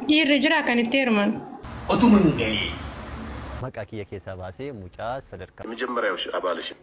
Dhiirri jiraa kan itti heeruman. Otuma hin galiin. Maqaa kiyya keessaa baasee mucaa sadarkaa. Yemejemmeryaw ishee abaal ishee.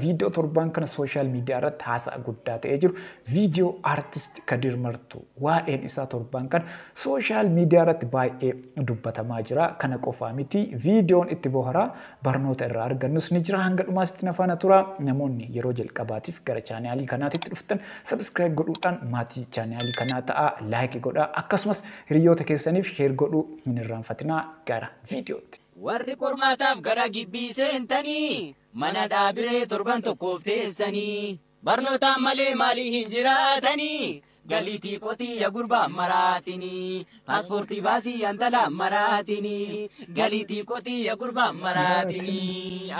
Viidiyoo torbaan kana sooshaal miidiyaa irratti haasa'a guddaa ta'ee jiru viidiyoo Artist Kadir Martuu. Waa'een isaa torbaan kana sooshaal miidiyaa irratti baay'ee dubbatamaa jira. Kana qofaa miti viidiyoon itti boharaa. Barnoota irraa argannus ni jira hanga dhumaatitti na faana tura. Namoonni yeroo jalqabaatiif gara chaanaalii kanaatitti dhuftan subscribe godhuudhaan maatii chaanaalii kanaa ta'a like godha akkasumas hiriyoota keessaniif share godhuu hin irraanfatinaa gara viidiyootti. Warri qormaataaf gara gibbii seentanii, mana dhaabiree torban tokkoof teessanii. Barnootaan malee maalii hin jiraatanii. Galiitii qotii ya gurbaa maraatinii. Paaspoortii baasii ya intala maraatinii. Galiitii qotii ya gurbaa maraatinii.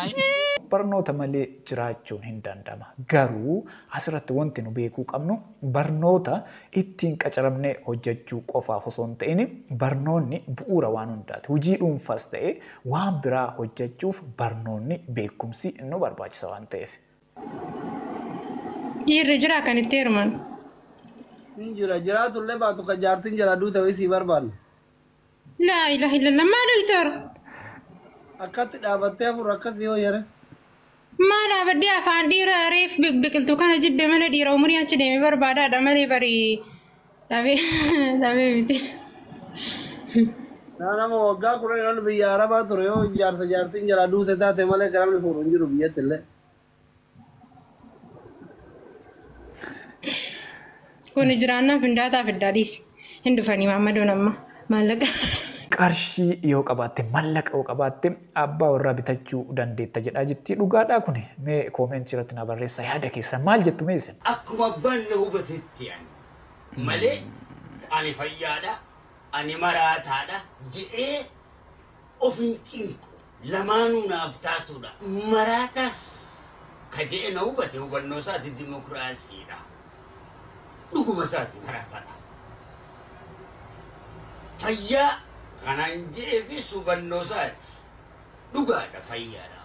Barnoota malee jiraachuun hin danda'ama. Garuu asirratti wanti nu beekuu qabnu barnoota ittiin qacaramnee hojjechuu qofaaf osoo hin ta'in barnoonni bu'uura waan hundaati. Hojii dhuunfaas ta'ee waan biraa hojjechuuf barnoonni beekumsi nu barbaachisa waan ta'eef. Dhiirri jira kan itti heeruman. Hin jira jiraatu illee baatu kan jaartiin jala duute wayii sii barbaanna. Laa ilaha illallah maa doktor Akkatti dhaabattee hafuura akkasii yoo yere. maa dhaabadhee afaan dhiira reef biqiltu kana jibbe mana dhiira umurii achi deeme barbaadaadha malee barii Dhabee dhabee miti. Naa nama waggaa kudhan ol biyya Arabaa ture yoo jaarsa jaartiin jalaa duute taate malee kan namni fuudhu hin jiru biyyatti illee. Kun jiraannaan findaataa fiddaa dhiisi. Hin dhufanii maammadoon amma maallaqa. Qarshii yoo qabaatte mallaqa yoo qabaatte abbaa warraa bitachuu dandeetta jedhaa jirti. Dhugaadhaa kun mee koomeentii irratti na barreessa yaada keessan maal jettu mee isin? Akkuma abbaan na hubatetti ani. malee ani fayyaadha, ani maraataadha jedhee of hin cinqu. Lamaanuu naaf taatuudha. Maraataas ka jedhe na hubate hubannoo isaati dimokiraasiidha. Dhuguma isaati maraataadha. Fayyaa kanaan jedheefis hubannoo isaati. Dhugaadha fayyaadha.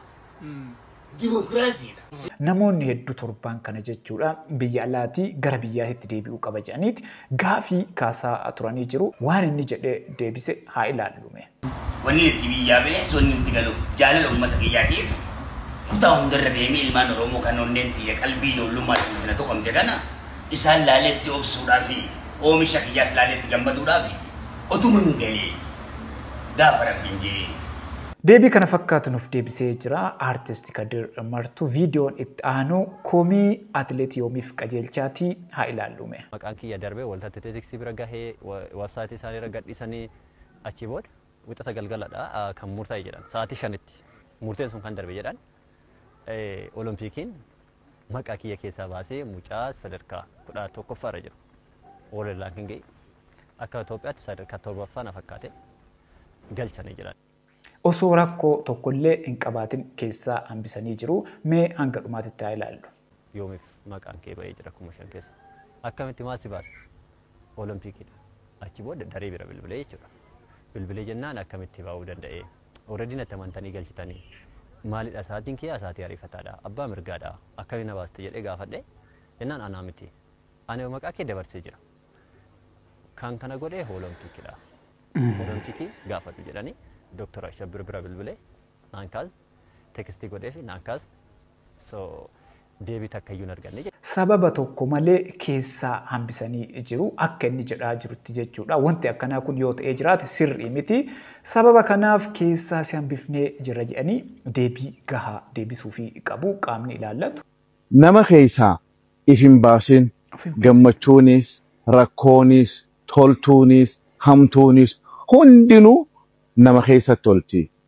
dimokiraasiidha. Namoonni heddu torbaan kana jechuudha biyya alaatii gara biyyaatitti deebi'uu qaba jedhaniiti gaafii kaasaa turanii jiru. Waan inni jedhe deebise haa ilaallu mee. Wannin itti biyyaa ba'eef wannin itti galuuf jaalala ummata kiyyaatiif kutaa hundarra deemee ilmaan Oromoo kan onneen tiyya qalbii ijoollummaatiin itti na tuqamte kana isaan laalee itti obsuudhaafi oomisha kiyyaas laalee itti gammaduudhaafi otuma hin galee gaafa rabbin je'ee. Deebii kana fakkaatu nuuf deebisee jira Artist Kadir Martuu. Viidiyoon itti aanu komii Atileet Yoomiif Qajeelchaati. Haa ilaalluu mee. Maqaan kiyya darbee Waldaa Atileetiksii bira gahee website isaanii irra gadhiisanii achii booda wixata galgaladha kan murtaa'e jedhan. Sa'aatii 5tti murteen sun kan darbe jedhan. Olompiikiin. maqaa kiyya keessaa baasee mucaa sadarkaa kudha tokkoffaa irra jiru World Ranking akka Itoophiyaatti sadarkaa torbaffaa na fakkaate galchanii jiran. Osoo rakkoo tokkollee hin qabaatin keessaa hambisanii jiru. Mee hanga dhumaatitti haa ilaallu. Yoomiif maqaan kee ba'ee jira kuma shan keessa. Akkamitti maal si baase? Olompiikiidha. Achi booda daree bira bilbilee jechuudha. Bilbilee jennaan akkamitti ba'uu danda'ee? Already natti amantanii galchitanii. Maalidha sa'aatiin kiyyaa sa'aatii ariifataadha. Abbaa mirgaadha. Akkamiin na baaste jedhee gaafadhe. Jennaan anaa miti. Ani maqaa kee dabarsee jira. Kan kana godhee hoolomtichidha. Hoolomtichi gaafadhu jedhanii Dooktar Ashabbir bira bilbilee naan kaas tekstii godheefi naan kaas. So deebii takka iyyuu hin arganne. Sababa tokko malee keessaa hambisanii jiru akka inni jedhaa jirutti jechuudha. Wanti akkanaa kun yoo ta'ee jiraate sirrii miti. Sababa kanaaf keessaa si hambifnee jirra jedhanii deebii gahaa deebisuufii qabu qaamni ilaallatu. Nama keessaa if hin baasin, gammachuunis, rakkoonis, toltuunis, hamtuunis hundinuu nama keessatti olti.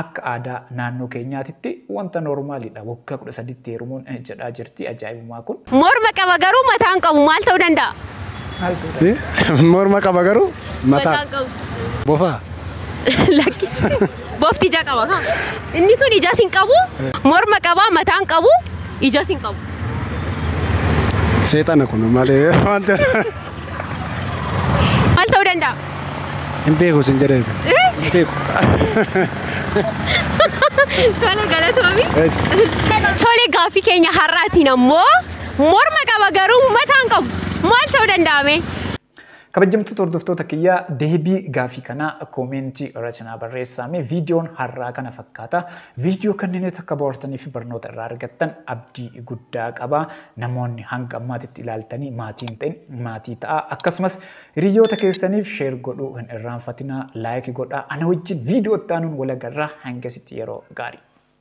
Akka aadaa naannoo keenyaatitti wanta noormaaliidha waggaa 13tti heerumuun jedhaa jirti ajaa'ibummaa kun. Morma qaba garuu mataa hin qabu maal ta'uu danda'a? Maal ta'uu danda'a? Morma qaba garuu mataa. Mataa hin qabu. Bofaa. Lakki. Bofti ija qaba kaa. Inni sun ijas hin qabu, morma qaba, mataa hin qabu, ijas hin qabu. Seexana kun malee wanta. Maal ta'uu danda'a? Hin beeku sin jedhee. Hin beeku. Tola galatoomi. Tole gaaffii keenya har'aatiin ammoo morma qaba garuu mataan qabu maal ta'uu danda'ame? Kabajamtoota hordoftoota kiyya deebii gaafii kanaa koomeentii irratti naa barreessaame viidiyoon har'aa kana fakkaata. Viidiyoo kanneen takka bohaartanii fi barnoota irraa argattan abdii guddaa qaba. Namoonni hanga ammaatitti ilaaltanii maatii hin ta'in maatii ta'aa akkasumas hiriyoota keessaniif sheer godhuu hin irraanfatinaa laayiki godhaa ana wajjin viidiyoo itti aanuun walagarraa hangasitti yeroo gaarii.